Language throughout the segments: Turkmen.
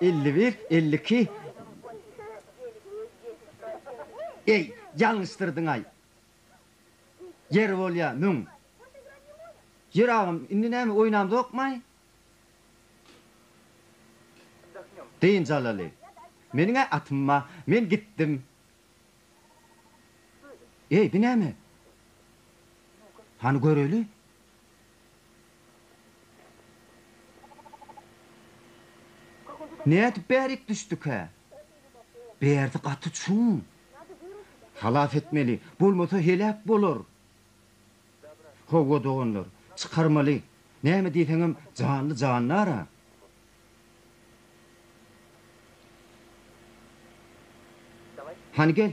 Elli bir, elli iki. Eý, ýalňyşdyrdyň-aý. Ýer bolýa, müň. Ýör agam, indi näme, oýnamzokmaý? Dynç alaly. Meniň-ä atym bar, men gitdim. Eý, bu näme? Hany göreli. Nädip bärik düşdükä? Bärsi gaty çuň. Halas etmeli, bolmasa heläk bolar. Hawa, doganlar, çykarmaly. Näme diýseňem janly jandar-a. Hany gel.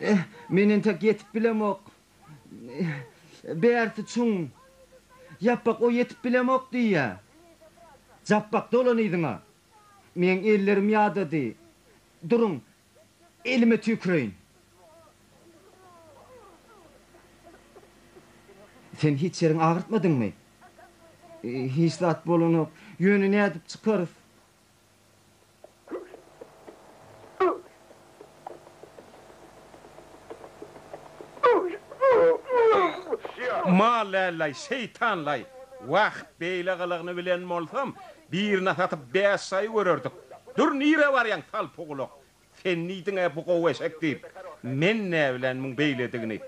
Eh, men entek ýetip bilemok. Bärsi çuň. Ýapbak o ýetip bilemok diýýä. Japbak dolan yzyňa. Meň ellerim ýadady. Duruň, elime tüýküreýin. Sen hiç ýeriňi agyrtmadyňmy? Hiç zat bolanok. Ýöne nädip çykarys? Mallalaý, şeýtanlaý! Wah, beýle gylygyny bilen bolsam, birine satyp bäş saýy görerdik. Dur, nirä barýaň, salpygulak! Sen diýdiň-ä bu gowy eşek diýip. Men näbilen muň beýledigini.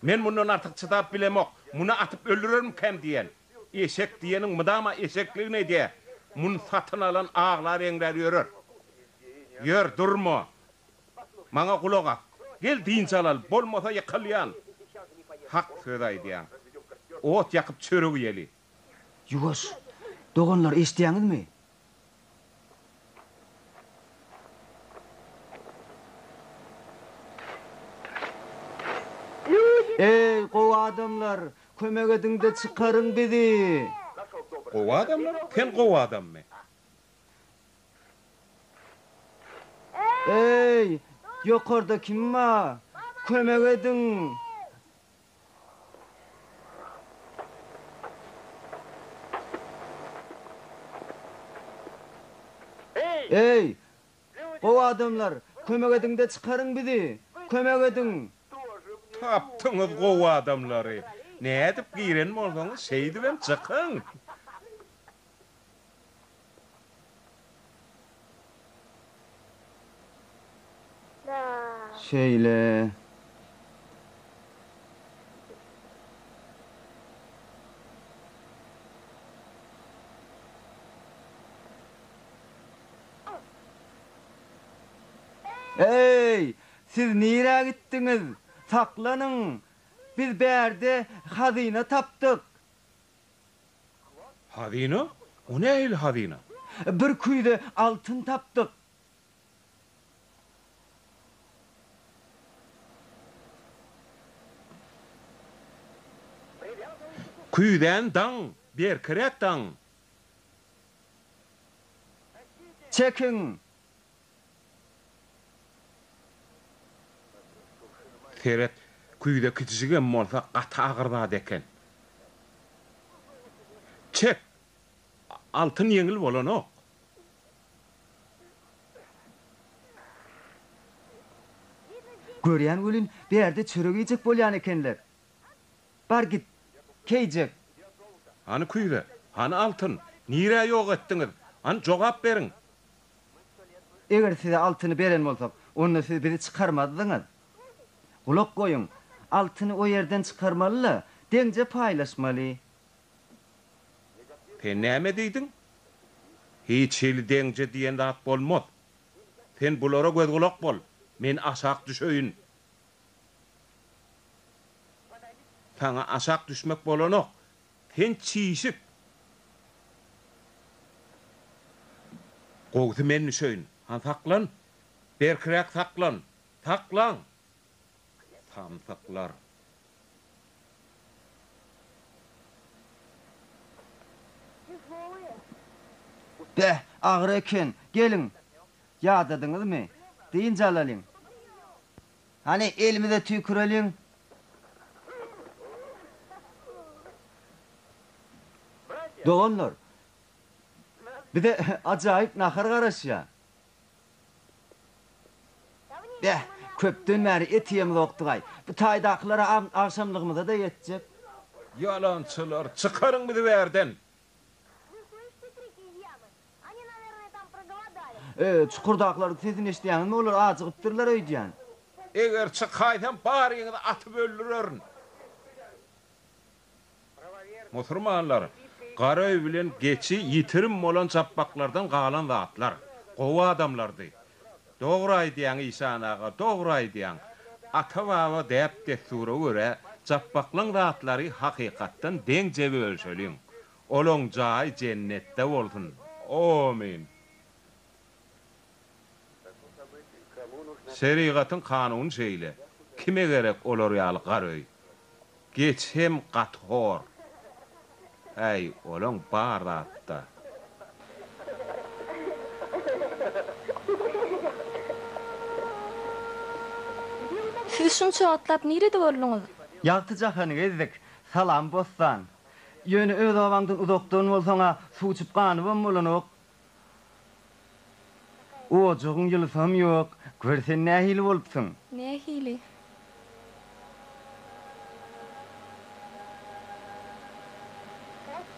Men mundan artyk çydap bilemok. Muny atyp öldürermikäm diýen. Eşek diýeniň mydama eşekligini edýä. Muny satyn alan aglar-eňrär ýörer. Ýör, durma. Maňa gulak as. Gel dynç alaly, bolmasa ýykylýan. Hak söz aýdýaň. Ot ýakyp çörek iýeli. Ýuwaş, doganlar, eşidýäňizmi? Eý, gowy adamlar, kömek ediň-de çykaryň bizi! Gowy adamlar? Sen gowy adammy? Eý, ýokarda kim bar? Kömek ediň! Eý, gowy adamlar, kömek ediň-de çykaryň bizi! Kömek ediň! Tapdyňyz gowy adamlary! Nädip giren bolsaňyz, şeýdibem çykyň! Şeýle. Eý, siz nirä gitdiňiz? Saklanyň! Biz bärde hazyna tapdyk! Hazyna? O nähili hazyna? Bir küýze altyn tapdyk. Küýzäni daň, berkiräk daň! Çekiň! Seret, küýze kiçijigem bolsa gaty agyr zat eken. Çek! Altyn ýeňil bolanok. Görýän welin, bärde çörek iýjek bolýan ekenler. Bar git, keýjek. Hany küýze, hany altyn? Nirä ýok etdiňiz? Hany jogap beriň! Eger size altyny beren bolsak, onda siz bizi çykarmazdyňyz. Gulak goýuň, altyny o ýerden çykarmaly-la, deňje paýlaşmaly. Sen näme diýdiň? Hiç hili deňje diýen zat bolmaz. Sen bulara göz-gulak bol, men aşak düşeýin. Saňa aşak düşmek bolanok, Sen çişik. Gowusy men düşeýin. Han saklan. Berkiräk saklan. Saklan! Samsyklar. Beh, agyr eken. Geliň. Ýadadyňyzmy? Dynç alalyň. Hany elimize tüýküreliň. Doganlar, bize ajaýyp nahar garaşýa. Beh, köpden bäri et iýemzokdygaý. Bu taýdakylara agşamlygymyza-da ýetjek. Ýalançylar, çykaryň bizi bu ýerden! Öý, çukurdaklaryň sesini eşidýäňizmi, olar ajygypdyrlar öýdýän. Eger çykaýsam, baryňyzy atyp öldürerin. Musurmanlar, gara öý bilen geçi ýitirim bolan japbaklardan galan zatlar. Gowy adamlardy. Dogry aýdýaň işan aga dogry aýdýaň. Ata baba däp dessura görä japbaklan zatlary hakykatdan deňje bölüşeliň. Olaň jaýy jennetde bolsun. Amin. Şerigatyň kanuny şeýle. Kime gerek olar ýaly gar öý. Geç hem gaty hor. Häý, olaň bar zatda. Siz şunça wagtlap nirede bolduňyz? Ýagty jahany gezdik. Salam Bossan. Ýöne öz obaňdan uzakdan bolsaň-a, suw içip ganybam bolanok. Ojagyň ýylysam ýok. Gör sen nähili bolupsyň. Nähili?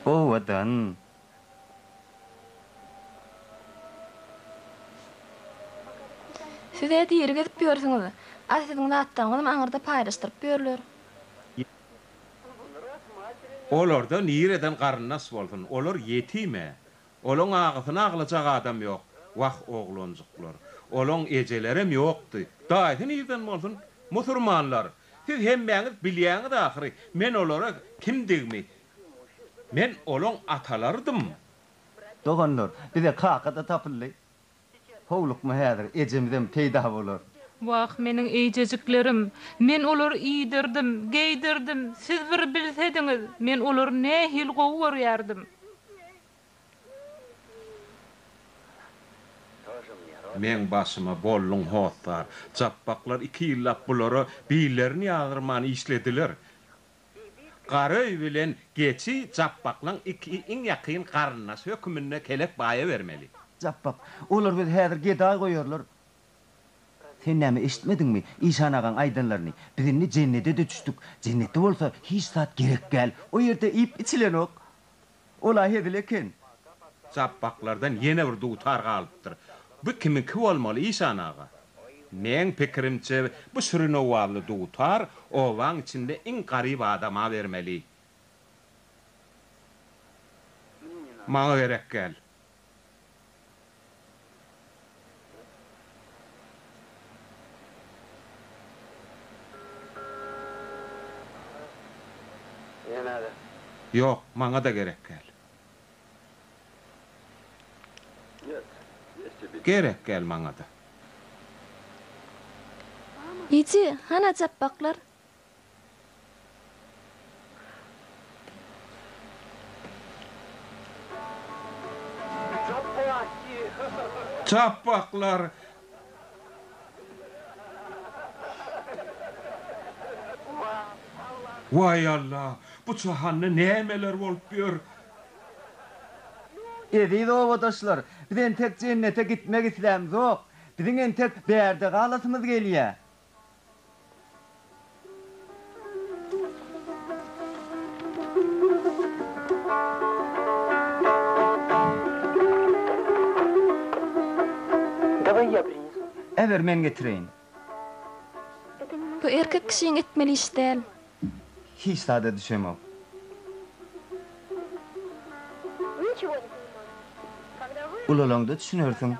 Owadan. Siz-ä diri gezip ýörsüňiz. A siziň zatlaryňyzam aňyrda paýlaşdyryp ýörler. Olarda nireden garyndaş bolsun. Olar ýetim-ä. Olaň agysyny aglajak adam ýok. Wah, oglanjyklar! Olaň ejelerem ýokdy. Daýysy nirden bolsun? Musurmanlar! Siz hemmäňiz bilýäňiz ahyry, men olara kimdigimi. Men olaň atalarydym. Doganlar, bize kaka-da tapyldy. Howlukma häzir, ejemizem peýda bolar. Wah, meniň eýjejiklerim! Men olary iýdirdim, geýdirdim, siz bir bilsediňiz, men olary nähili gowy görýärdim! Meň başyma bolduň hossar! Japbaklar iki ýyllap bulara billerini ýazdyrman işlediler. Garöý bilen Geçi Japbaklaň iki iň ýakyn garyndaşy höküminde Kelek baýa bermeli. Japbak, Olar bizi häzir gedaý goýarlar. Sen näme eşitmediňmi işan agaň aýdanlaryny? Biz indi jennede-de düşdük. Jennetde bolsa hiç zat gerek däl. O ýerde iýip-içilenok. Ol-a hezil eken. Japbaklardan ýene bir dutar galypdyr. Bu kimiňki bolmaly, işan aga? Meň pikirimçe, bu şirin owazly dutar obaň içinde iň garyp adama bermeli. Maňa gerek gel. Ýok, maňa-da gerek gel. Gerek gel maňa-da. Ýiti, hana japbaklar? Çapbaklar. Waý Alla, bu jahanda nämeler bolup ýör? Eziz obadaşlar, biz entek jennete gitmek islämzok. Biziň entek bärde galasymyz gelýär. Äber, men getireýin. Bu erkek kişiň etmeli iş däl. Hiç zada düşemok. Ulalaňda düşünersiň.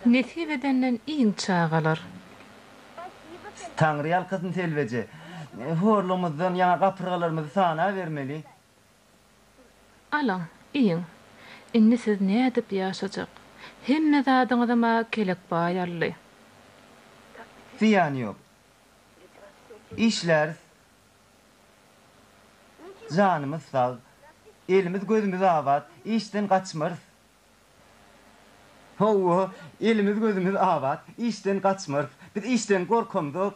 Nesip edenden iň çagalar. Taňry ýalkasyn Selbeje. Horlumyzdan ýaňa gapyrgalarymyzy sanabermeli. Alyň, iýiň. Indi siz nädip ýaşajak? Hemme zadyňyzam-a Kelek baý aldy. Zyýany ýok. Işläris. Janymyz sag. Elimiz-gözümiz abat. Işden gaçmarys. Hawa, elimiz gözümiz abat, işden gaçmarys. Biz işden gorkamzok.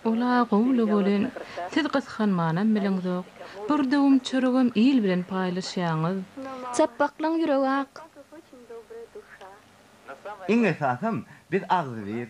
Ol-a gowy-la welin, siz gysganmanam biliňzok. Bir döwüm çöregem il bilen paýlaşýaňyz. Çapbaklaň ýüregi ak. Iň esasam, biz agzybir.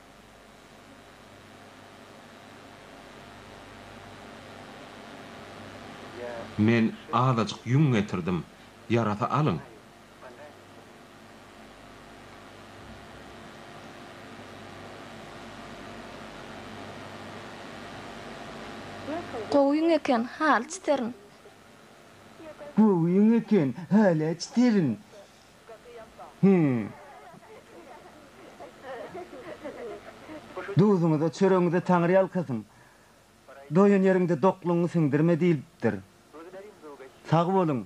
Men azajyk ýüň getirdim. Ýarasa alyň. Gowy ýüň eken, haly çiterin. Gowy ýüň eken, haly çiterin. Duzuňyza, çöregiňize Taňryýalkasyn. Doýan ýeriňde doklugyňy siňdirme diýlipdir. Sag boluň!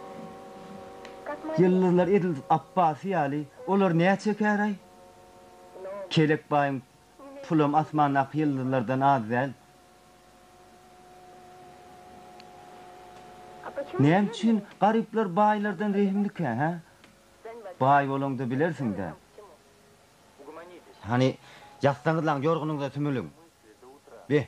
Ýyldyzlar edil Apbasy ýaly, olar nä çekäraý? Kelek baýyň pulam asmandaky ýyldyzlardan az däl. Näme üçin garyplar baýlardan rehimlikä, hä? Baý bolaňda bilersiň-dä. Hany, ýatsaňyzlaň, ýorgunyňyza sümüliň. Be!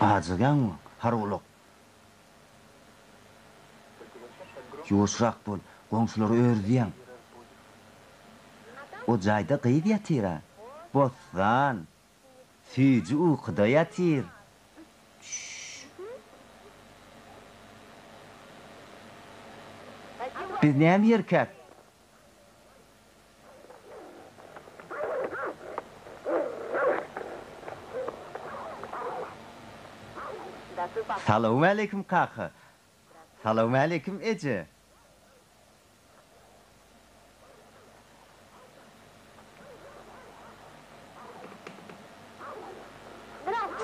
Ajygýaňmy, hargulak? Ýuwaşrak bol, goňşulary örüzýäň. O jaýda gyz ýatyr-a. Bossan, Süýji ukyda ýatyr. Biz näme ýerkäk? Salowmaleýkim kaka. Salowmaleýkim eje.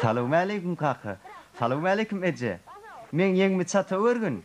Salowmaleýkim kaka. Salowmaleýkim eje. Meň ýeňimi çata örgün.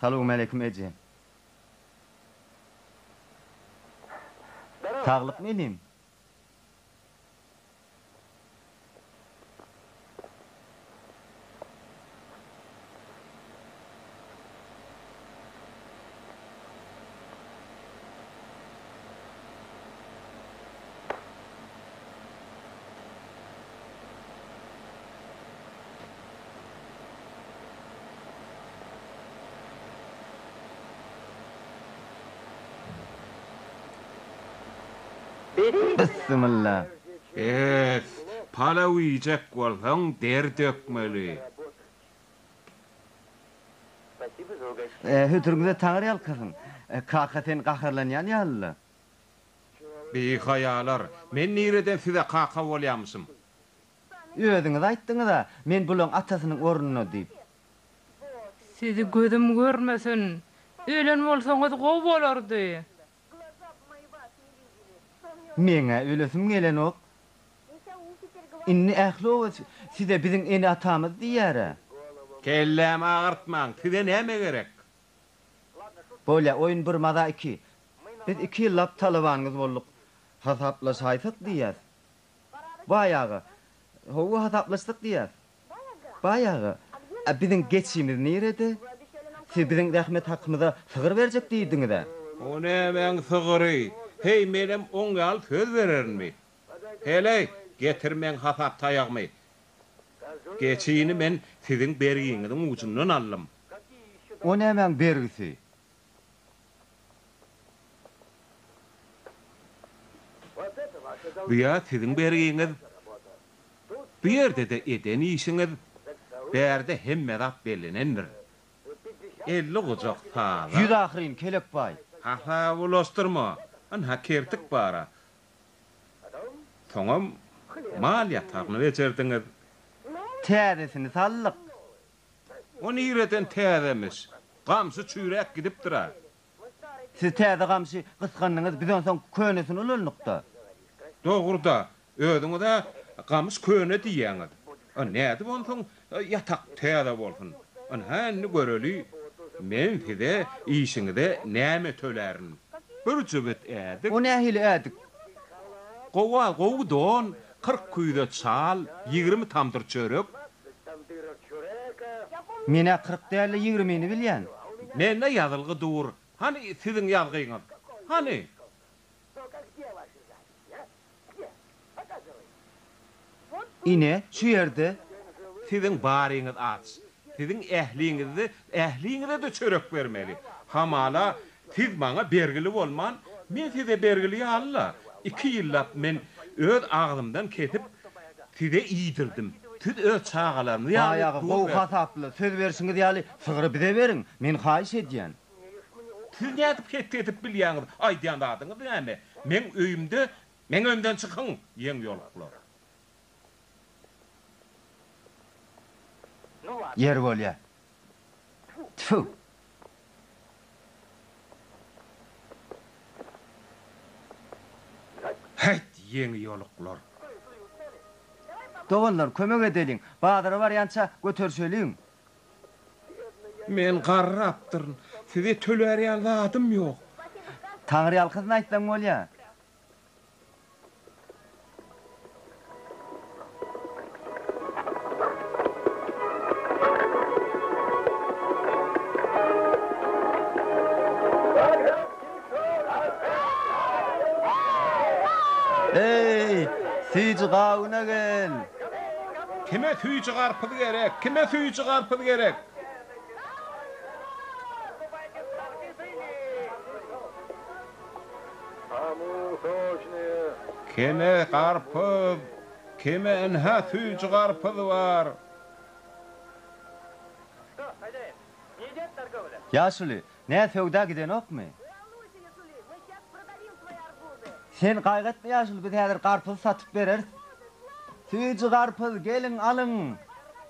Salowmaleýkim eje. Saglykmy inim. Bissimilla. Bes, palaw iýjek bolsaň der dökmeli. Hötürüňize Taňry ýalkasyn. Kaka sen gaharlanýan ýalyla. Bihaýalar, men nireden size kaka bolýamyşym? Özüňiz aýtdyňyz-a, men bulaň atasynyň ornuna diýip. Sizi gözüm görmesin. Ölen bolsaňyz gowy bolardy. Meň-ä ölesim gelenok. Indi ähli oba size biziň ene-atamyz diýýär-ä. Kellämi agyrtmaň, size näme gerek? Bolýa, oýun bir maza iki. Biz iki ýyllap talabanyňyz bolduk. Hasaplaşaýsak diýýäs. Baýaga. Hawa, hasaplaşdyk diýýäs. Baýaga. A biziň geçimiz nirede? Siz biziň zähmet hakymyza sygyr berjek diýdiňiz-ä? O nämäň sygyry? Heý, menem oň ýaly söz bererinmi? Heleý, getir meň hasap taýagymy. Geçini men siziň bergiňiziň ujundan aldym. O nämäň bergisi? Bu ýaz siziň bergiňiz, bu ýerde-de eden işiňiz, bärde hemme zat bellenendir. Elli gujak sala. Ýüz ahyryn, kelek baý. Hasaby ulaşdyrma, ynha kertik bar-a. Soňam mal ýatagyny bejerdiňiz. Täzesini saldyk. O nireden täzemiş? Gamşy çüýräp gidipdir-ä. Siz täze gamşy gysgandyňyz, biz onsoň könesini ulandyk-da. Dogry-da, özüňiz-ä gamyş köne diýýäňiz. Nädip onsoň ýatak täze bolsun? Ynha indi göreli, men size işiňize näme tölärin? Bir jübüt ädik. O nähili ädik? Gowa, gowy don, Kyrk küýze çal, ýigrimi tamdyr çörek. Men-ä kyrk däl-de ýigrimini bilýän. Mende ýazylgy dur. Hany siziň ýazgyňyz? Hany? Ine, şu ýerde. Siziň baryňyz aç. Siziň ähliňizde ähliňize-de çörek bermeli. Hamala, siz maňa bergili bolman, men size bergili ýaly-la. Iki ýyllap men öz agzymdan kesip, size iýdirdim. Siz öz çagalaryňyz ýaly duz berdiňiz. Baýagy gowy hasaply, söz berşiňiz ýaly, sygry bize beriň, men haýyş edýän. Siz nädip hetdi edip bilýäňiz? Aýdýan zadyňyz näme? Meň öýümde meň öýümden çykyň, ýeňýoluklar! Ýer bolýa. Tfu. Haýt ýeňi ýoluklar. Doganlar kömek edeliň. Bazara barýança göterişeliň. Men garrapdyryn. Size tölär ýaly zadym ýok. Taňryýalkasyn aýtsaň bolýa. Eý, süýji gawuna gel! Kime süýji garpyz gerek? Kime süýji garpyz gerek? Keme garpyz, keme ynha süýji garpyz bar. Ýaşuly, nä söwda gidenokmy? Sen gaýgy etme ýaşuly, biz häzir garpyzy satyp bereris. Süýji garpyz, geliň, alyň.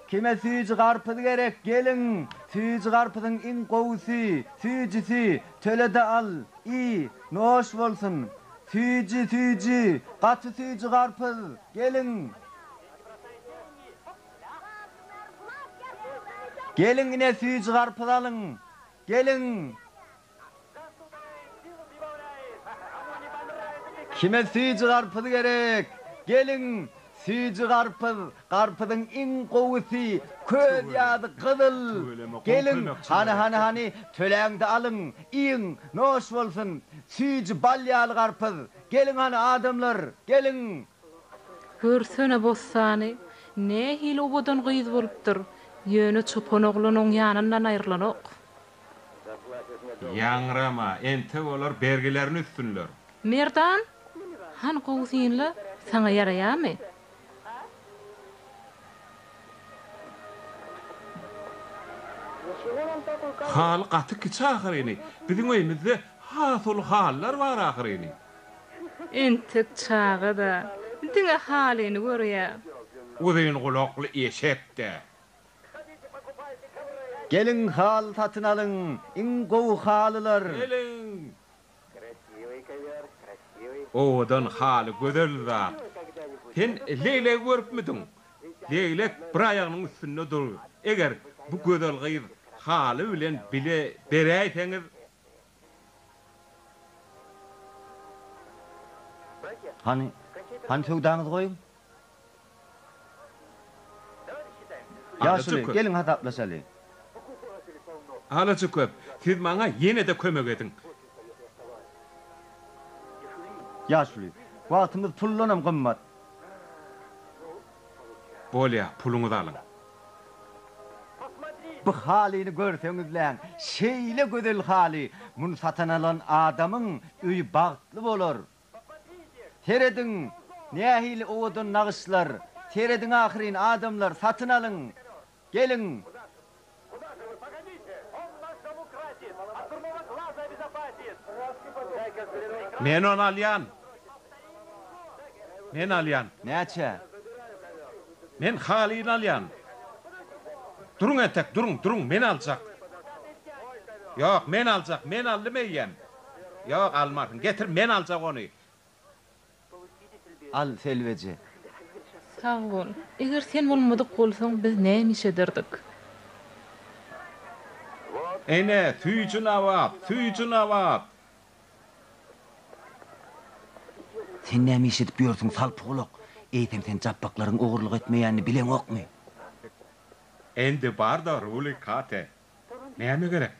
Kime süýji garpyz gerek, geliň. Süýji garpyzyň iň gowusy, süýjüsi, Töle-de al, iý, noş bolsun! Süýji, süýji, gaty süýji garpyz! Geliň! Geliň, ine, süýji garpyz alyň! Geliň! Kime süýji garpyz gerek? Geliň, süýji garpyz Garpyzyň iň gowusy köz ýaly gyzyl. Geliň, hany, hany, hany, töläňde alyň, iýiň, noş bolsun. Süýji bal ýaly garpyz. Geliň hany, adamlar, geliň! Görsene bossany, nähili owadan gyz bolupdyr, ýöne çopan oglan oň ýanyndan aýrylanok. Ýaňrama, entek olar bergilerini üstünler. Merdan, hany gowy synla, saňa ýaraýamy? Haly gaty kiçi ahyryny. Biziň öýümizde has uly halylar bar ahyryny. Entek çaga-da. Diňe halyny görýär. Uzyn gulakly eşek-de. Geliň haly satyn alyň. Iň gowy halylar. Geliň, Owadan haly gözel zat. Sen leglegi görüpmidiň? Leglek bir aýagynyň üstünde dur. Eger bu gözel gyz haly bilen bile beräýseňiz. Hany, hany söwdaňyzy goýuň. Ýaşuly, geliň hasaplaşaly. Alaçökek, siz maňa ýene-de kömek ediň. Ýaşuly, wagtymyz puldanam gymmat. Bolýa, puluňyzy alyň. Bu halyny görseňizläň, şeýle gözel haly, muny satyn alan adamyň öýi bagtly bolar. Serediň, nähili owadan nagyşlar, serediň ahyryn, adamlar, satyn alyň, geliň! Men ony alýan! Men alýan! Näçä? Men halyny alýan! Duruň entek, duruň, duruň, men aljak! Ýok, men aljak, men aldym eýýäm! Ýok, almarsyň. Getir, men aljak ony. Al, selbeje. Sag bol. Eger sen bolmadyk bolsaň, biz näme iş ederdik? Ene, süýji nawap, süýji nawap! Sen näme iş edip ýörsüň, salpygulak? Eýsem, sen japbaklaryň ogurlyk etmeýänini bileňokmy? Endi bar-da, Ruli Kate, Näme gerek?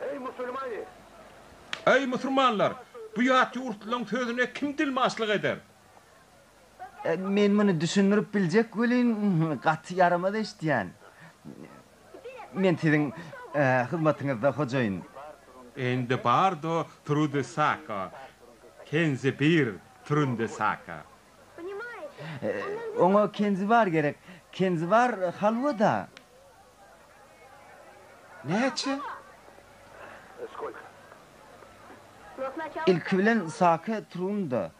Eý, musulmany! Eý, musulmanlar! Bu ýat ýurtlylaň sözüne kim dilmaçlyk eder? Men muny düşündirip biljek welin, gaty ýaramaz eşidýän. Men siziň hyzmatyňyzda, hojaýyn. Endi bardo trude saka, kenze bir trunde saka. Oňa kenzibar gerek. Kenzibar halwa-da. Näçe? Ilki bilen sake turun-da.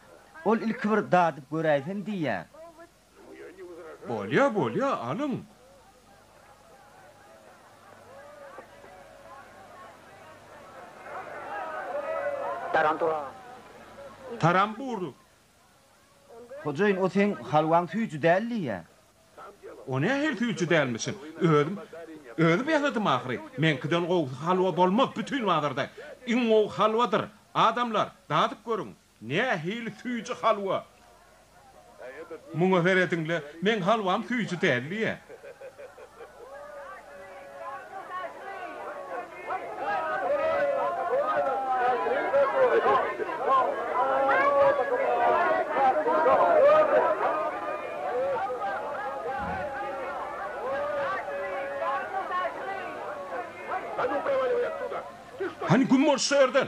Ol ilki bir dadyp göräýsin diýýä. Bolýa, bolýa, alyň. Tarantura. Taranbur. Hojaýyn, o seň halwaň süýji däl diýýär. O nähili süýji dälmişin? Özüm, özüm ýasadym ahyry. Meňkiden gowusy halwa bolmaz bütin bazarda. Iň gowy halwadyr. Adamlar, dadyp görüň, nähili süýji halwa! Muňa serediň-le, meň halwam süýji däl diýýär. Hany güm bol şu ýerden!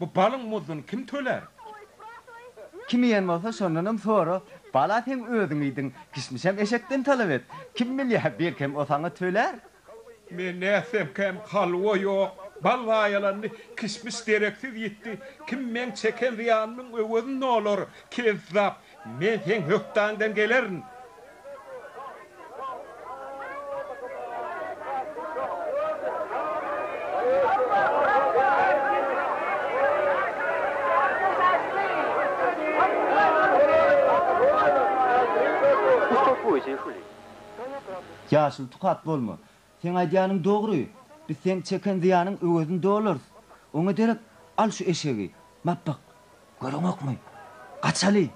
Bu balyň muzduny kim tölär? Kim iýen bolsa, şondanam sora. Bala seň özüň iýdiň, kişmişem eşekden talap et. Kim bilýär, belkem, o saňa tölär? Men nätsemkäm, halwa ýok, bal zaýalandy, kişmiş dereksiz ýitdi. Kim meň çeken zyýanymyň öwezini olar? Kezzap! Men seň hökdaňdan gelerin. Ýaşyl tukat bolma. Seň aýdýanyň dogry, biz seň çeken zyýanyň öwezini dolarys. Oňa derek al şu eşegi. Mapbak, göreňokmy? Gaçaly!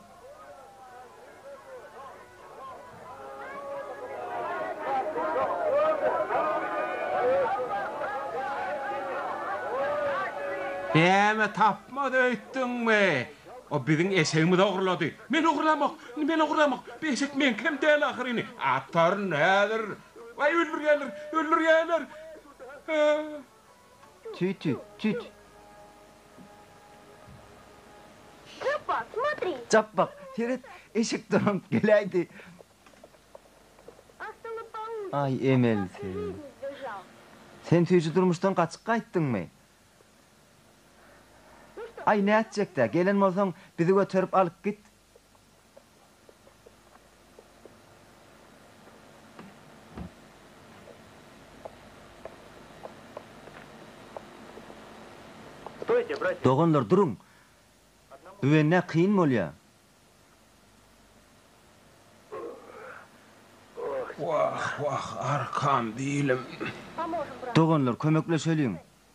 Näme tapmaz öýtdüňmi? O biziň eşegimizi ogurlady. Men ogurlamok, men ogurlamok. Bu eşek meňkem däl ahyryn. Ataryn häzir. Waý, öldürýärler, öldürýärler! Tüt, tüt, tüt! Çapba, smotri! Çap bak, seret, eşek dolanp geläýdi. Aý, Emel, sen. Sen süýji durmuşdan gaçyp gaýtdyňmy? Aý, nätjek-dä, gelen bolsaň, bizi göterip alyp git, Doganlar duruň! Büwennä kyn bolýa. Wah, wah, arkam, bilim! Doganlar kömekleşeliň!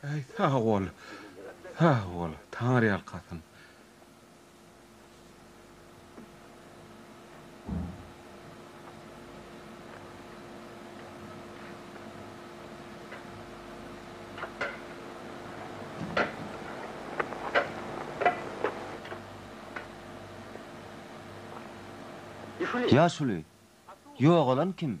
Äý sag bol, sag bol, taňryýalkasyn. Ýaşuly, ýogalan kim?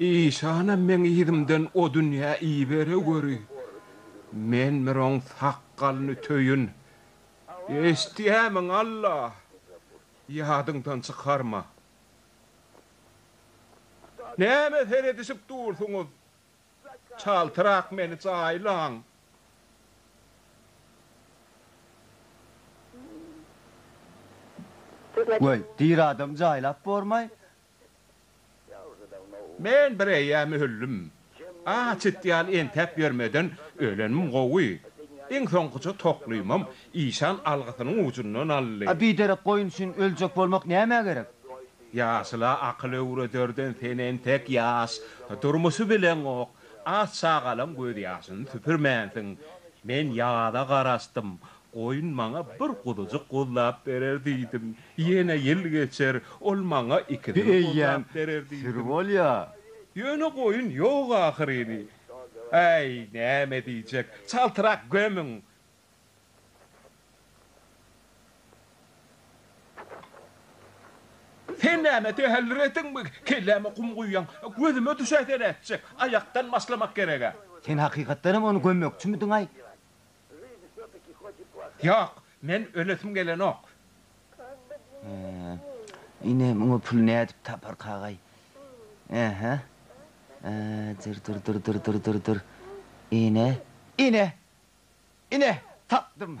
Işanam meň yzymdan o dünýä ibere göri, men bir oň sakgalyny töýün. Eşitýämiň, Alla? Ýadyňdan çykarma. Nämä seredişip dursuňyz? Çaltrak meni jaýlaň. Weý, diri adamy jaýlap bormaý, Men bir eýýäm öldüm. Aç it ýaly entäp ýörmeden ölenim gowy. Iň soňkuja toklymam işan algysynyň ujundan aldy. A biderek goýun üçin öljek bolmak nämä gerek? Ýaşula akyl öwrederden sen entek ýaş, durmuşy bileňok, aç çagalaň gözýaşyny süpürmänsiň. Men ýaza garaşdym. Goýun maňa bir guzujyk guzlap berer diýdim. Ýene ýyl geçer, ol maňa ikisini guzlap berer diýdim. Ýöne goýun ýok ahyryny. Äý, näme diýjek, çaltrak gömüň! Sen näme tähellür etdiňmi, kelläme kum guýýaň? Gözüme düşäýse nätjek? Aýakdan başlamak gerek-ä. Sen hakykatdanam ony gömmekçimidiň-aý? Ýok, men ölesim gelenok. Ine, muňa puly nädip taparkagaý? Ä-hä. Dyr-dyr-dyr-dyr-dyr-dyr-dyr. Ine, ine! Ine, tapdym!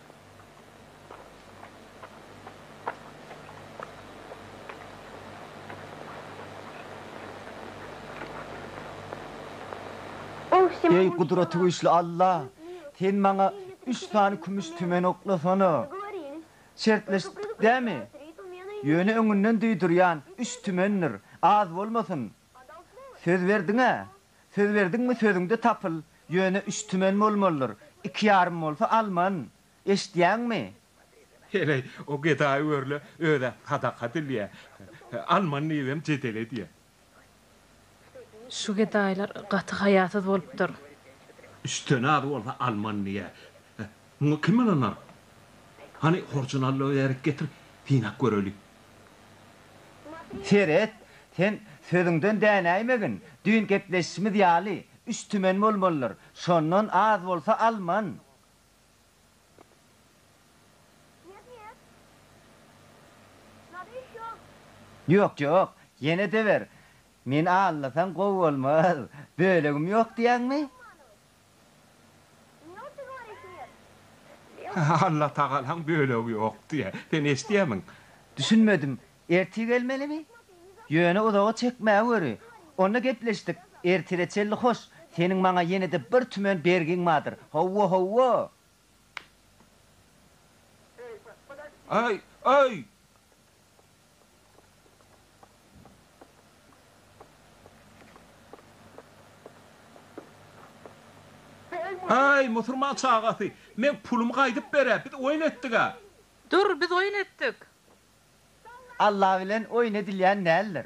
Eý, Gudratygüýçli Alla, Sen maňa üç sany kümüş tümen oklasana. Şertleşdik dämi? Ýöne öňünden duýdurýan, üç tümendir, az bolmasyn. Söz berdiň-ä, Söz berdiňmi sözüňde tapyl, ýöne üç tümen bolmalydyr, iki ýarym bolsa alman. Eşitýäňmi? Heleý, o gedaý görle özä sadaka dilýä. Alman diýibem jedel edýä. Şu gedaýlar gaty haýasyz bolupdyr. Üçden az bolsa alman diýä. Muňa kim ynanar? Hany horjunaly bärik getir, synap göreli. Seret, sen sözüňden dänäýmegin, düýn gepleşişimiz ýaly, üç tümen bolmalydyr, şondan az bolsa alman. Ýok, ýok, ýene-de ber. Meni alnasaň gowy bolmaz. Bölegim ýok diýýäňmi? Allatagalaň bölegi ýok diýýä. Sen eşidýämiň? Düşünmedim. Ertir gelmelimi? Ýöne uzaga çekmä göri. Onda gepleşdik. Ertire çenli hoş. Seniň maňa ýene-de bir tümen bergiň bardyr. Howwa, howwa! Aý, aý! Eý, musurman çagasy, men pulumy gaýdyp berä, biz oýun etdig-ä. Dur, biz oýun etdik. Alla bilen oýun edilýän däldir.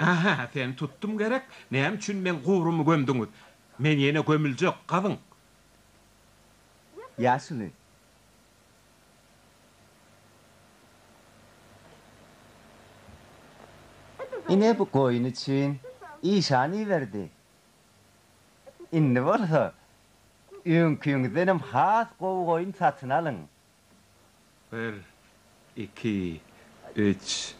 Aha, seni tutdum gerek, näme üçin meň gubrumy gömdüňiz? Men ýene gömüljek, gazyň. Ýaşyny. Ine bu goýun üçin. Işan iberdi. Indi bolsa öňkiňizdenem has gowy goýun satyn alyň. Bir, iki, üç.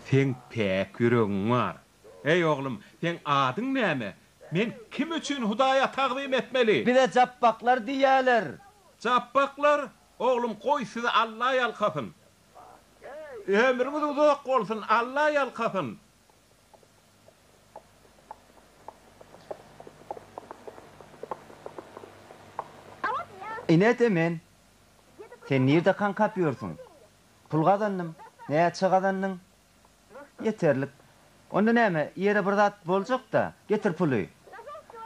Seň päk ýüregiň bar. Eý, oglum, seň adyň näme? Men kim üçin Hudaýa tagzym etmeli? Bize Japbaklar diýýärler. Japbaklar? Oglum, goý, sizi Alla ýalkasyn. Ömrüňiz uzak bolsun, Alla ýalkasyn. Inede men Sen nirde kaňkap ýörsüň? Pul gazandym. Näçe gazandyň? Ýeterlik. Onda näme, ýere bir zat boljak-da, getir puly.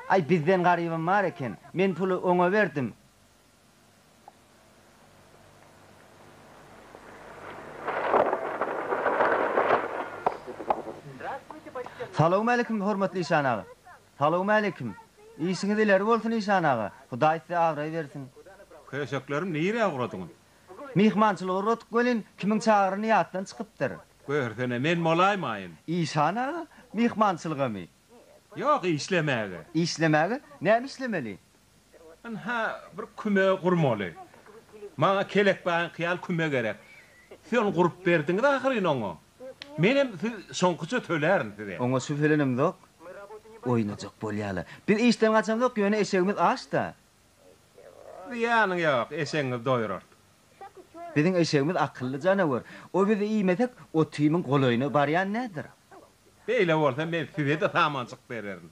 Aý, bizden garybam bar eken. Men puly oňa berdim. Salowmalikim hormatly işan aga. Salowmalikim. Işiňiz ileri bolsun işan aga. Hudaý size abraý bersin. Köşeklerim nirä ugradyňyz. Myhmançylyga ugradyk welin kimiň çagyrany ýatdan çykypdyr. Görsene men bolaýmaýyn. Işan aga, myhmançylygamy? Ýok, işlemäge. Işlemäge? Näme işlemeli? Ynha, bir küme gurmaly. Maňa kelekbaýyňky ýaly küme gerek. Siz ony gurup berdiňiz ahyryn oňa. Menem siz şoňkuça tölärin size. Oňa şübhelenemzok. Oýnajak bolýa-la. Biz işden gaçamzok, ýöne eşegimiz aç-da. Zyýanyň ýok, eşegiňizi doýurarys. Biziň eşegimiz akylly janawar. O bizi iýmesek, o Timiň golaýyna barýan näder? Beýle bolsa men size-de samanjyk bererin.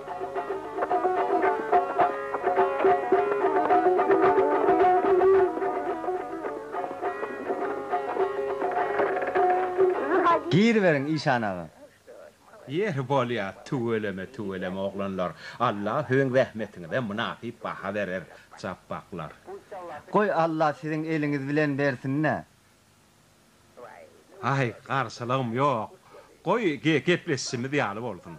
Giriberiň işan aga. Ýeri bolýa tüweleme tüweleme oglanlar Allah siziň zähmetiňize mynasyp baha berer japbaklar. Goý Allah siziň eliňiz bilen bersinä. Aý, garşylygym ýok. Goý, gepleşişimiz ýaly bolsun.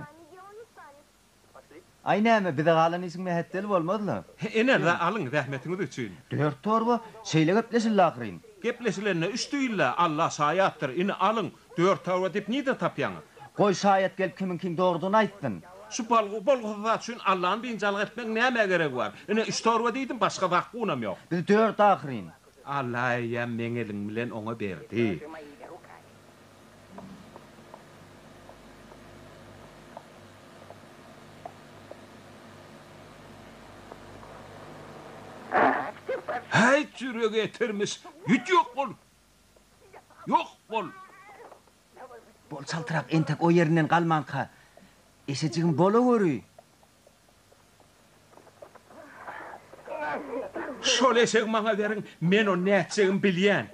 Aý, näme, bize galan işiň mähetdel bolmaz-la. Ene-de alyň, zähmetiňiz üçin. Dört torba, şeýle gepleşildi ahyryn. Gepleşilende üç diýildi, Alla şaýatdyr. Indi alyň, dört torba diýip nirden tapýaňyz? Goý, şaýat gelip kimiňkiň dogrudygyny aýtsyn. Şu bolgusyz zat üçin Allany biynjalyk etmegiň nämä geregi bar? Ine, üç torba diýdim, başga zat-gunam ýok. Biz dört ahyryn. Allah eýýäm meň elim bilen oňa berdi. Häýt jüregi etirmiş, git ýok bol! Ýok bol! Bol çaltrak entek o ýerinden galmanka, eşejigim bolaweri! Şol eşegi maňa beriň, men ony nätjegimi bilýän.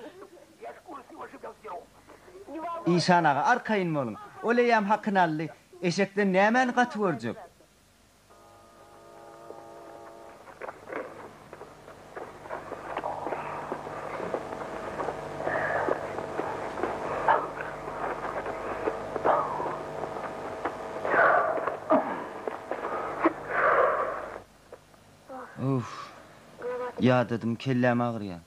Işan aga, arkaýyn boluň. Ol eýýäm hakyny aldy. Eşekden nämäni gaty görjek? Uff. Ýadadym kelläm agyrýar.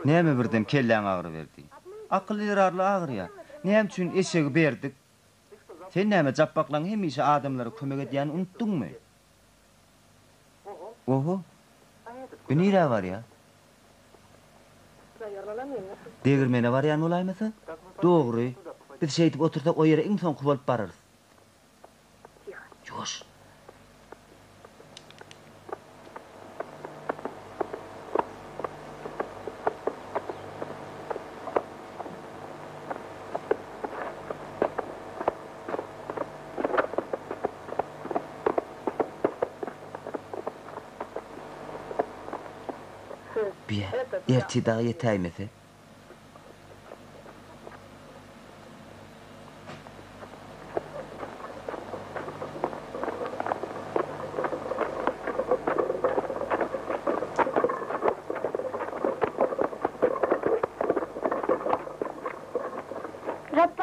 Näme birden kelläň agyryberdi? Akyl ýyrarly agyrýar. Näme üçin eşegi berdik? Sen näme Japbaklaň hemişe adamlara kömek edýäni unutdyňmy? Oho. Bu nirä barýa? Degirmene barýan bolaýmasa? Dogry. Biz şeýdip otursak o ýere iň soňky bolup bararys. Ýuwaş. Biýe, ertir dagy ýetäýmese,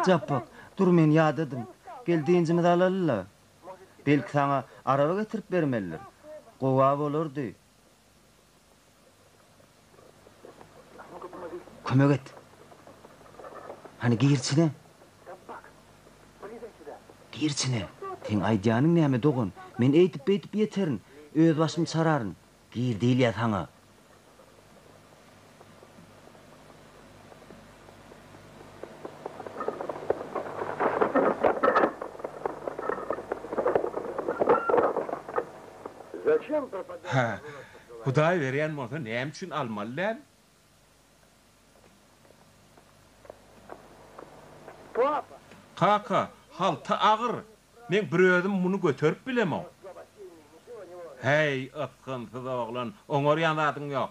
Japbak, dur men ýadadym. Gel dynjymyzy alaly-la. Belki saňa araba getirip bermelidir. Gowa bolardy. Kömek et. Hany gir içine. Gir içine. Seň aýdýanyň näme dogan? Men eýdip-beýdip ýeterin. Özbaşym çararyn. Gir diýilýä saňa. Hä, Hudaý berýän bolsa näme üçin almaly däl? Kaka, halta agyr, meň bir özüm muny göterip bilemok. Häý, ysgynsyz oglan, oňarýan zadyň ýok.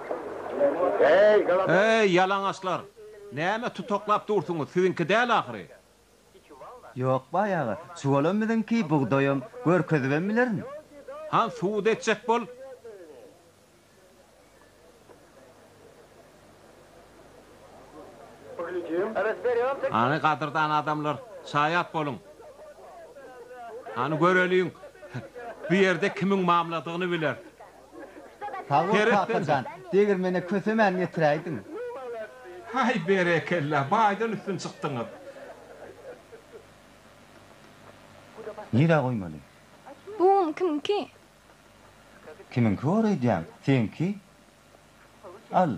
Eý, ýalaňaçlar! Näme tutaklap dursuňyz, siziňki däl ahyry? Ýok, baý aga, çuwalam biziňki, bugdaýam. Görkezibem bilerin. Han, subut etjek bol! Hany, gadyrdan adamlar, şaýat boluň! Hany, göreliň, bu ýerde kimiň mamladygyny bileris. Sag bol kaka jan, degirmene kösemän getiräýdiň. Haý berekella baýdan üstün çykdyňyz. Nirä goýmaly? Bu un kimiňki? Kimiňki bor öýdýäň? Seňki? Al.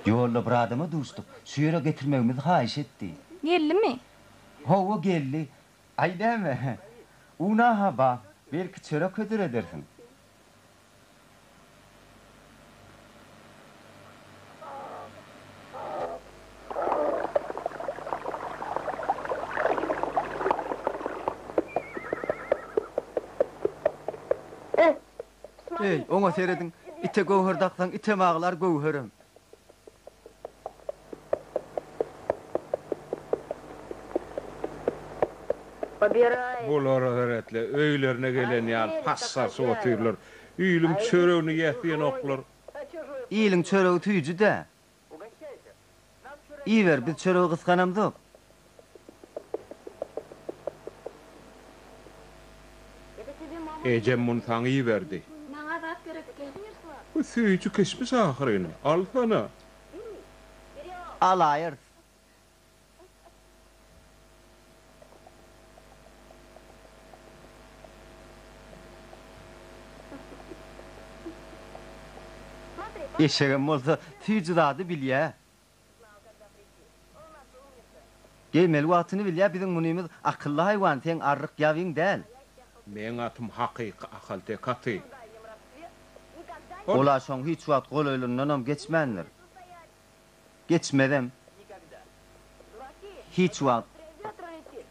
Ýolda bir adama duşduk. Şu ýere getirmegimizi haýyş etdi. Geldimi? Hawa, geldi. Aý näme? Una-ha bar, belki çörek hödür edersiň. Eý, oňa serediň! Ite göwher daksaň, item aglar, göwherem. Bular heretle öýlerine gelen ýaly pas-sarsy otyrlar. Iliň çöregini ýesýenoklar. Iliň çöregi süýji-dä. Iýiber, biz çöregi gysganamzok. Ejem muny saňa iberdi. Maňa zat gerek däl. Bu süýji kişmiş ahyryn. Alsana. Alaýarys. Eşegem bolsa süýji zady bilýä. Geýmeli wagtyny bilýä biziň munymyz akylly haýwan seň arryk ýabyň däl. Meň atym hakyky ahalteke aty. Ol aşyň hiç wagt golaýlyndanam geçmändir. Geçmezem. Hiç wagt.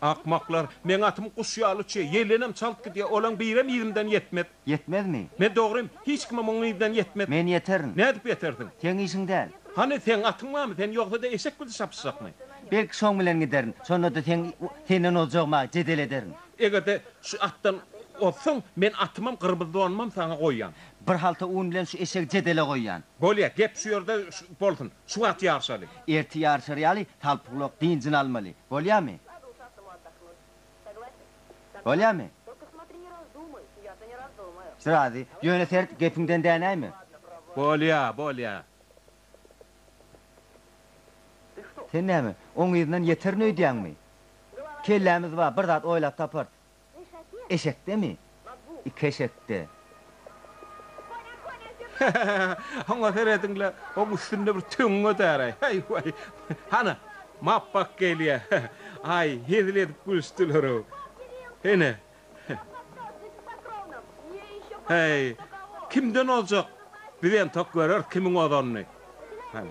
Akmaklar. Meň atym guş ýaly çy. Ýellenem çalt gidýär. Olaň birem yzymdan ýetmez. Ýetmezmi? Men dogrym. Hiç kimem oň yzdan ýetmez. Men ýeterin. Nädip ýetersiň? Seň işiň däl. Hany, seň atyň barmy? Sen ýogsa-da eşek bizi çapyşjakmy? Belki şoň bilen giderin. Şonda-da seň senden ozjagym-a, jedel ederin. Eger-de şu atdan ozsaň, men atymam, gyrmyzdonumam saňa goýýan. Bir halta un bilen şu eşegi jedele goýýan. Bolýa, gep şu ýerde bolsun. Şu wagt ýaryşaly. Erti ýaryşar ýaly, Talpygulak dynjyny almaly. Bolýamy? Bolýamy? Razy. Ýöne sert, gepiňden dänäýme. Bolýa, bolýa. Sen näme, oň yzyndan ýeterin öýdýäňmi? Kellämiz bar, bir zat oýlap taparys. Eşekdemi? Iki eşekde. Oňa serediň-le, oň üstünde bir töň götär-aý. Heý-weý! Hana, Mapbak gelýär. Aý, hezil edip gülüşdiler-ow. Hene. Heý, kimden ozjak? Biz entek göreris kimiň ozanyny. Hany.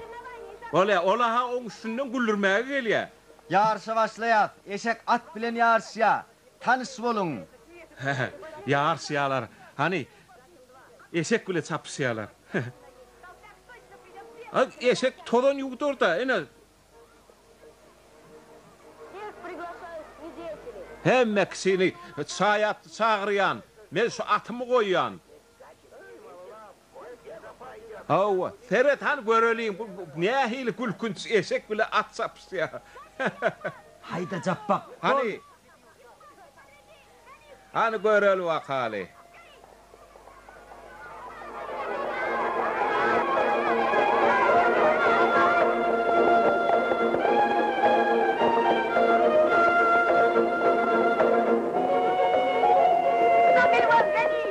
Bolýar, ol-a oň üstünden güldürmäge gelýär. Ýaryşa başlaýas. Eşek at bilen ýaryşýa. Tanyş boluň. Hä-hä, ýaryşýalar. Hany, eşek bile çapyşýalar. A eşek tozan ýuwdur-da, ine. Hemme kişini çaý atly çagyrýan. Men şu atymy goýýan. Hawa, seret hany göreliň, bu nähili gülkünç, eşek bile at çapyşýar. Haýda Japbak, boldy. Hany göreli wakaly.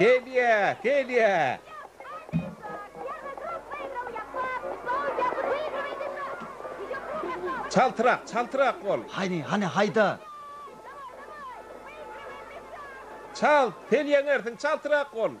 Fedýa! Fedýa! Çaltrak, çaltrak bol! Hany, hany, haýda! Çalt, sen ýeňersiň, çaltrak bol!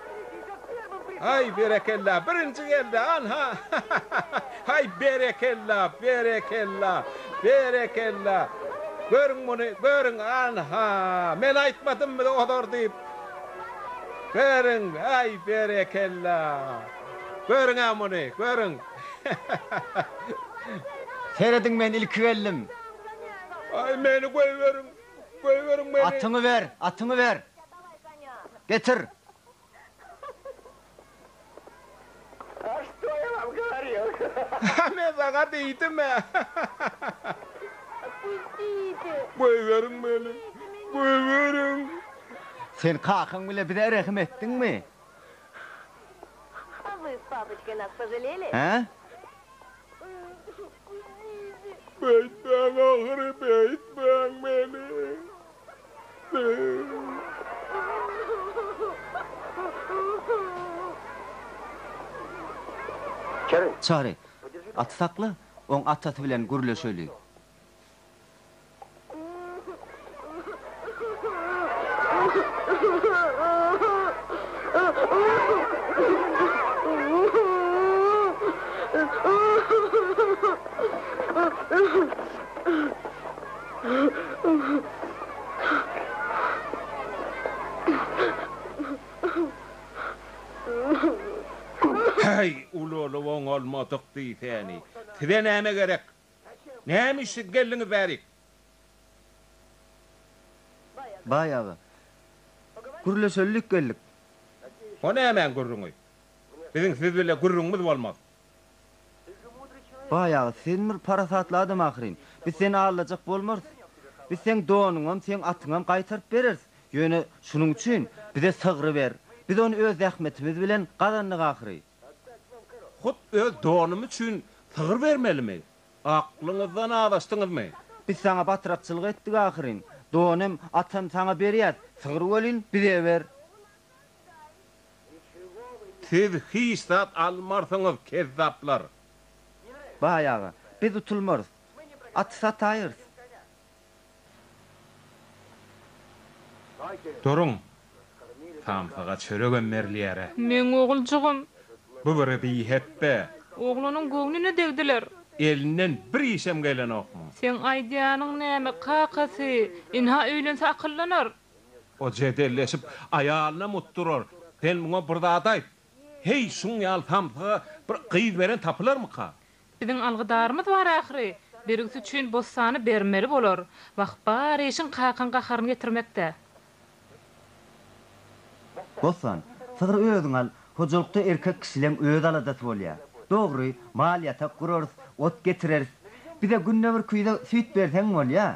Aý berekella birinji geldi anha haý berekella berekella berekella görüň muny görüň anha men aýtmadymmy ozor diýip görüň aý berekella görüňä muny görüň Serediň men ilki geldim. Aý meni goýberiň goýberiň meni. Atyňy ber atyňy ber. Getir! Men saňa diýdim-ä! Goýberiň meni! Goýberiň! Sen kakaň bile bize rehim etdiňmi? Hä? Beýtmäň ahyry, beýtmäň meni! Çary, aty sakla, oň atasy bilen gürleşeli. Häý, ulanyp oňalmadyk diýsäni. Size näme gerek? Näme üçin geldiňiz bärik? Baý aga, gürleşelilik geldik. O nämäň gürrüňi? Biziň siz bile gürrüňimiz bolmaz. Baýagy, sen bir parasatly adam ahyryn. Biz seni aldajak bolmarys. Biz seň donuňam, seň atyňam gaýtaryp bereris. Ýöne şunuň üçin bize sygry ber. Biz ony öz zähmetimiz bilen gazandyk ahyry. Hut öz donym üçin sygyr bermelimi? Aklyňyzdan azaşdyňyzmy? Biz saňa batrakçylyk etdik ahyryn. Donym, atam saňa berýäs. Sygry welin, bize ber. Siz hiç zat almarsyňyz, kezzaplar! Baý aga, biz utulmarys. At sataýyrys. Duruň! Samsyga çöregem berilýär-ä! Meň oguljygym! Bu bir bihetde! Oglunyň göwnüne degdiler! Elinden bir işem gelenokmy? Seň aýdýanyň näme, kakasy? Ynha, öýlense akyllanar! O jedelleşip, aýalyna mutdurar, Sen muňa bir zat aýt. Heý, şuň ýaly samsyga bir gyz beren tapylarmyka? Biziň algydarymyz bar ahyry. Birgisi üçin bossany bermeli bolar. Wah, bar işiň kakaň gaharyny getirmekde. Bossan, sygry özüň al, hojalykda erkek kişileň öz aladasy bolýar. Dogry, mal-ýatak gurarys, ot getireris. Bize günde bir küýze süýt berseň bolýar.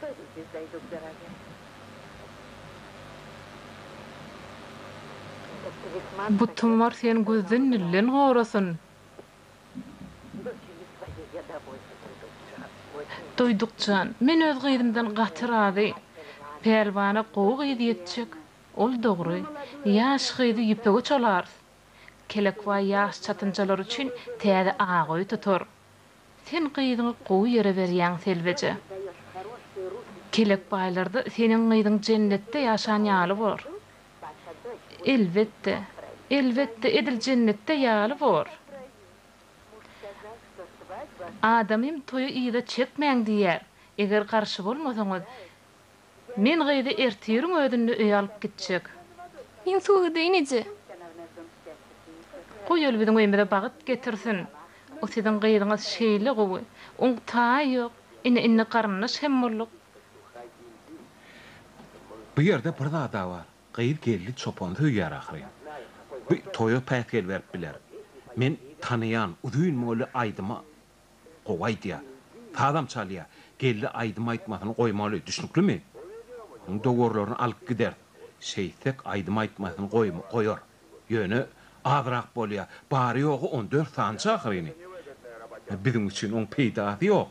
Beýdip ýüzleý Dukdere gel. Butuňar sen güzden millen gorasyn. Duýdukjan, men öz gyzymdan gaty razy. Pälwana gowy gyz ýetjek. Ol dogry. Ýaş gyzy ýüpege çalarys. Kelekbaý ýaş çatynjalar üçin täze aga öý tutar. Sen gyzyňy gowy ýere berýäň Selbeje. Kelek baýlarda seniň gyzyň jennetde ýaşan ýaly bor. Elbetde, elbetde edil jennetde ýaly bor. Adamym toýy yza çekmäň diýýär, eger garşy bolmasaňyz, Men gyzy ertiriň özünde öýe alyp gitjek. Men suw ideýin eje. Goý ol biziň öýümize bagyt getirsin. O siziň gyzyňyz şeýle gowy. Oň taýy ýok. Ine indi garyndaş hem bolduk. Bu ýerde bir zada bar. Gyz geldi çopany söýýär ahyryn. Bu toýa päsgel berip biler. Men tanaýan uzyn boýly aýdyma Gowy aýdýar. Sazam çalýar. Geldi aýdym aýtmasyny goýmaly. Düşnüklimi? Onuň dowarlaryny alyp gideris. Şeýtsek aýdym aýtmasyny goýar. Ýöne azrak bolýar. Bary-ýogy on dört sanjy ahyryny. Biziň üçin oň peýdasy ýok.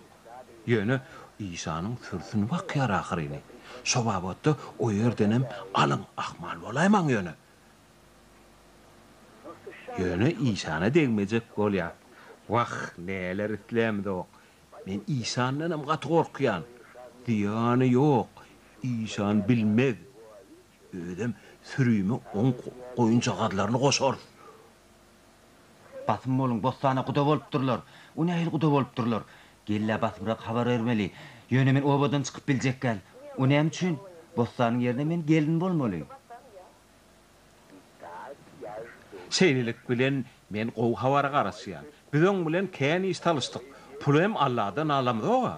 Ýöne işanyň sürsüni bakýar ahyryny. Şo babatda o ýerdenem alyň, ahmal bolaýmaň ýöne. Ýöne işana degmejek bolýan. Wah, näler islämizok. Men işandanam gaty gorkýan. Zyýany ýok, işan bilmez. Özem sürüme oň goýunjagazlaryny goşarys. Basym boluň, bossana guda bolupdyrlar. O nähili guda bolupdyrlar? Gel-ä basymrak habar bermeli. Ýöne men obadan çykyp biljekgäl. O näme üçin? Bossanyň ýerine men gelin bolmaly. Şeýlelik bilen men gowy habara garaşýan. Biz oň bilen kän iş salyşdyk. Puly hem Alladan alamyzog-a.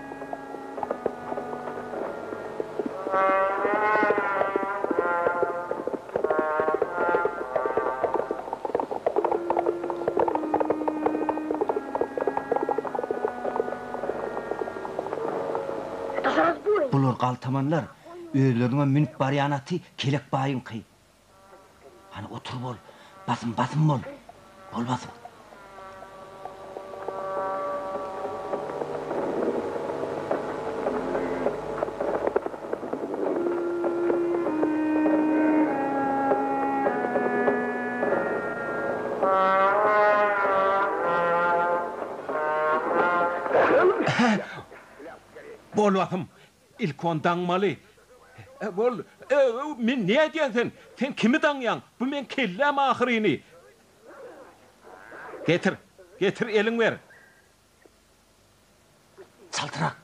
Bular galtamanlar, özleriniňem münüp barýan aty Kelek baýyňky. Hany otur bol. Basym basym bol. Bol basym. Bol basym. Ilki ony daňmaly. He, bol. Öw, men ne edýän sen? Sen kimi daňýaň? Bu meň kelläm ahyryny. Getir, getir, elin ber. Çaltrak.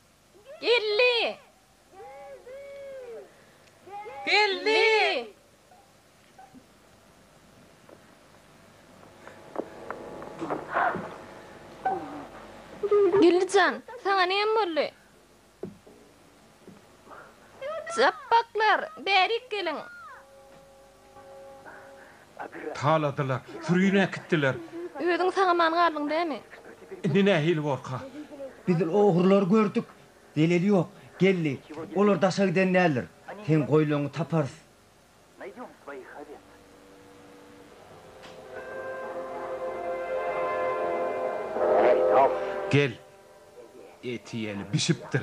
Geldi! Geldi! Geldi jan, saňa näme boldy? Japbaklar, bärik geliň! Taladylar, sürini äkitdiler. Özüň sag-aman galdyň dämi? Indi nähili borka? Biz ogrulary gördük. Deleli ýok. Geldi. Olar daşa giden däldir. Seň goýlaňy taparys. Gel. Eti ýeli bişipdir.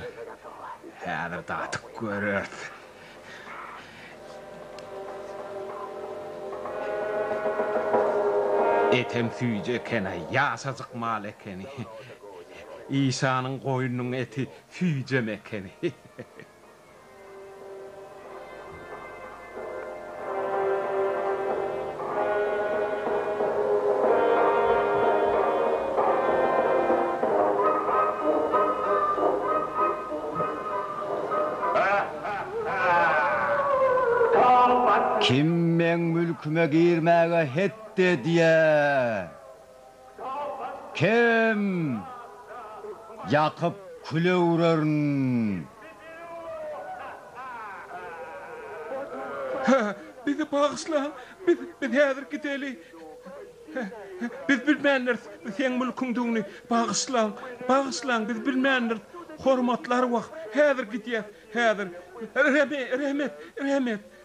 Häzir datyp göreris. Etem süýji eken-ä, ýaşajyk mal ekeni. Işanyň goýnunyň eti süýjem ekeni. Kim meň mülküme girmäge hetdi edýär? Kem ýakyp küle öwrerin. Hä, bizi bagyşlaň, biz, biz häzir gideli. Hä, hä, biz bilmändiris bu seň mülküňdigini. Bagyşlaň, bagyşlaň, biz bilmändiris. Hormatly arwah, häzir gidýäs, häzir. Re-re-rehmet, rehmet,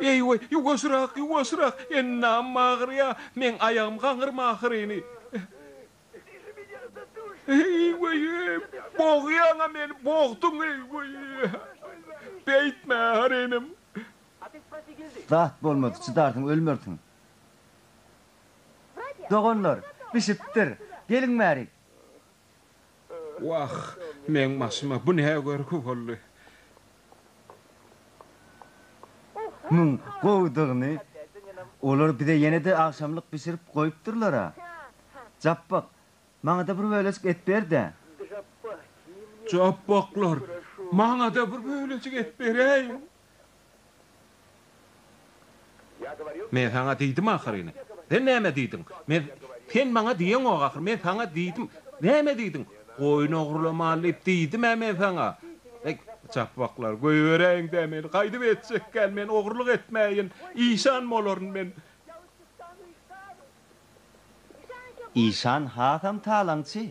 Eý-weý, ýuwaşrak, ýuwaşrak! Endamym agyrýar, meň aýagym gaňyrma ahyryny. Eý-weý, bogýaň-a meni, bogduň, eý-weý! Beýtme, ar inim! Zat bolmaz, çydarsyň, ölmersiň. Doganlar, bişipdir, geliň bärik! Wah, meň başyma bu ne görgi boldy? Muň gowudygyny olar bize ýene-de agşamlyk bişirip goýupdyrlar-a. Japbak, maňa-da bir bölejik et ber-dä. Japbaklar, maňa-da bir bölejik et beräýiň. Men saňa diýdim ahyryny. Sen näme diýdiň? Men Sen maňa diýeňok ahyry. Men saňa diýdim. Näme diýdiň? Goýun ogrulamaly diýip diýdim-ä men saňa. Eý, çapbaklar, goýberäýiň-dä meni. Gaýdyp etjek däl men. Ogruluk etmäýin. Işan bolaryn men. Işan hasam talaňçy.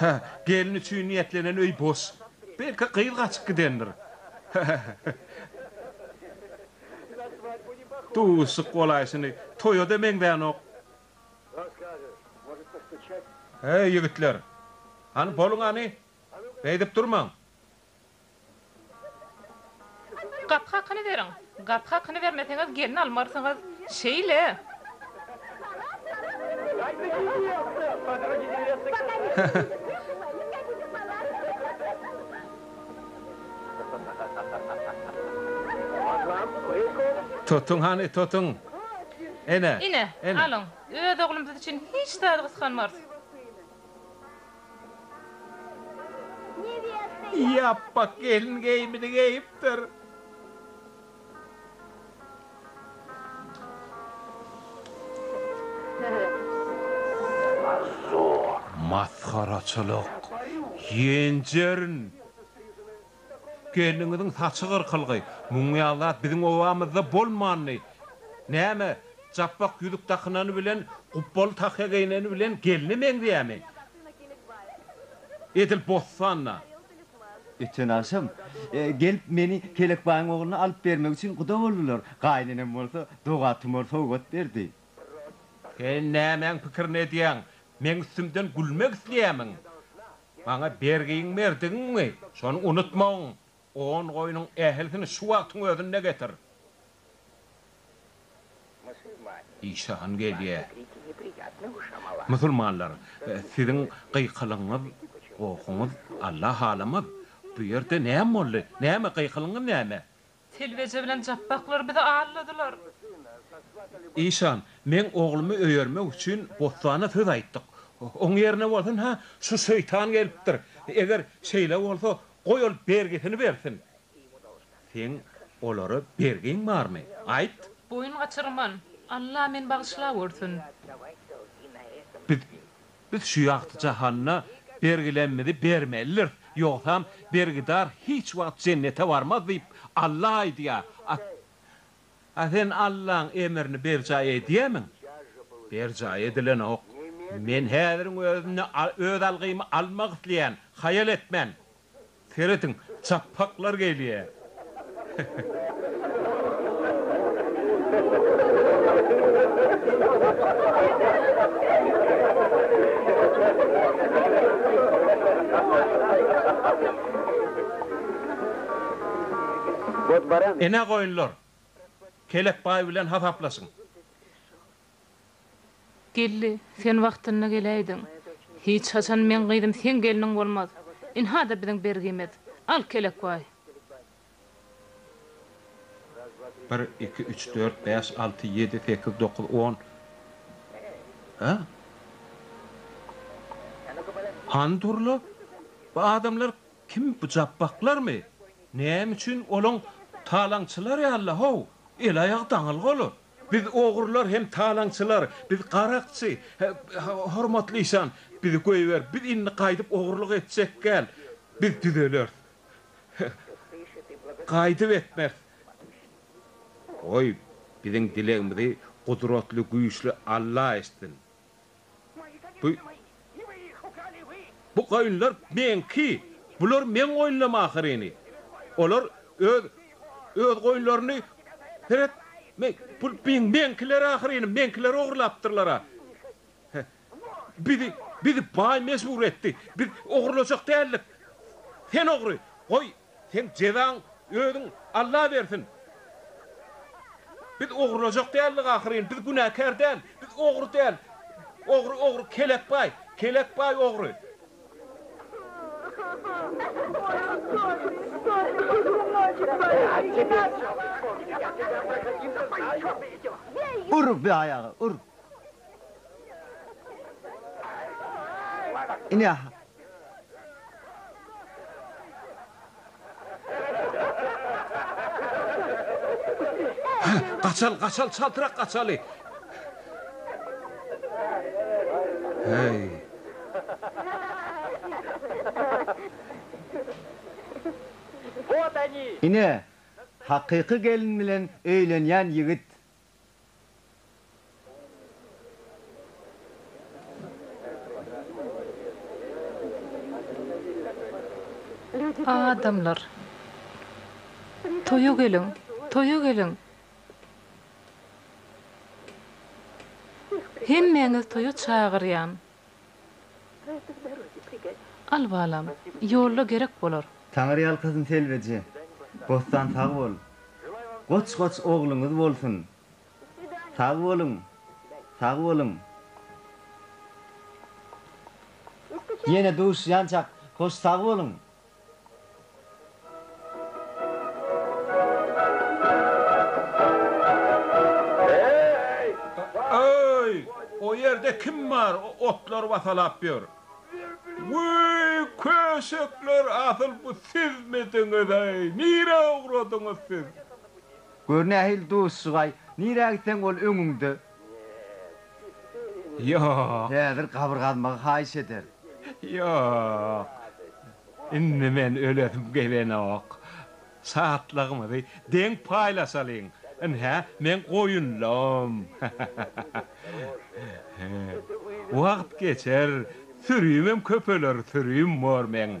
Hä, gelin üçin niýetlenen öý boş. Belki gyz gaçyp gidendir. Duşuşyk golaýşyny toýa-da meňzänok. Heý, ýigitler! Hany, boluň hany! Beýdip durmaň! Gapy hakyny beriň! Gapy hakyny bermeseňiz gelin almarsyňyz! Şeýle! Tutuň hany, tutuň! Ine, alyň! Öz oglumyz üçin hiç zady gysganmarys. Ýapbak gelin geýimini geýipdir. Masgaraçylyk, ýenjerin! Gelniňiziň saçy gyrkylgy. Muň ýaly zat biziň obamyzda bolmandy. Näme, japbak ýüzük dakynany bilen, gupbaly tahýa geýneni bilen gelne meňzeýärmi? Edil bossan-da. Öten agşam, gelip, meni Pelekbaýyň ogluna alyp bermek üçin guda boldular. Gaýynenem bolsa doga-tumar sowgat berdi. Sen nämäň pikirini edýäň? Meň üstümden gülmek isleýärmiň? Maňa bergiň berdigiňmi, şony unutmagyn. On goýnuň ählisini şu wagtyň özünde getir. Işe han gelýä. Musulmanlar, siziň gykylygyňyz, gohuňyz Alla halamaz. Bu ýerde näme boldy? Näme, gykylygyňyz näme? Telbeje bilen japbaklar bizi alladylar. Işan, meň oglumy öýermek üçin bossana söz aýtdyk. Oň ýerine bolsun-ha, şu şeýtan gelipdir. Eger şeýle bolsa, goý ol bergisini bersin. Seň olara bergiň barmy? Aýt! Boýun gaçyrman. Alla meni bagyşlagörsün. Biz Biz şu ýagty jahanda bergilerimizi bermelidiris, ýogsam bergidar hiç wagt jennete barmaz diýip, Alla aýdýar. A A sen Allaň emrini berjaý edýärmiň? Berjaý edilenok. Men häziriň özünde öz algymy almak isleýän, haýal etmän. Serediň, çapaklar gelýär. Ene goýunlar, Kelek baý bilen hasaplaşyň. Geldi, sen wagtynda geläýdiň. Hiç haçan meň gyzym seň gelniň bolmaz. Ynha-da biziň bergimiz. Al kelekbaý. Bir, iki, üç, dört, bäş, alty, ýedi, sekiz, dokuz, on. Hä? Hany dur-la, bu adamlar kim, bu japbaklarmy? Näme üçin olaň talaňçylar ýaly-la, how, el-aýagy daňylga olar. Biz ogrular hem talaňçylar, biz garakçy, hormatly işan, bizi goýber, biz indi gaýdyp ogrulyk etjekgäl, biz düzeleris, gaýdyp etmeris. Goý, biziň dilegimizi gudratly güýçli Alla eşitsin. Bu goýunlar meňki. Bular meň goýunlarym ahyryny. Olar öz öz goýunlaryny seret meň bu meňkiler ahyryny, meňkiler ogurlapdyrlar-a. Bizi bizi baý mejbur etdi. Biz ogurlajak däldik. Sen ogry. Goý, Seň jezaň özüň Alla bersin. Biz ogurlajak däldik ahyryn, biz günäkär däl, biz ogry däl. Ogry ogry kelek baý, kelek baý ogry. Ur bi aýaga ur. Ine Hä, gaçal, gaçal, çaltrak gaçaly! Häý! Ine, hakyky gelin bilen öýlenýän ýigit! Adamlar. Toýa geliň! Toýa geliň! Hemmäňizi toýa çagyrýan! Al balam, ýolda gerek bolar. Taňyrýalkasyn Selbiji. Bossan sag bol. Goç goç ogluňyz bolsun. Sag boluň. Sag boluň. Ýene duşýançak hoş sag boluň. Öý! O ýerde kim bar, otlary basalap ýör? Wüý, köşekler, asyl bu sizmidiňiz-eý? Nirä ugradyňyz siz? Gör nähili duşjygaý, nirä gitseň ol öňüňde. Ýok. Häzir gabyr gazmagy haýyş eder. Ýok. Indi men ölesim gelenok. Şatlygymyzy deň paýlaşalyň. Ynha, meň goýunlarym. Wagt geçer, sürümem köpeler, sürüm bor meň.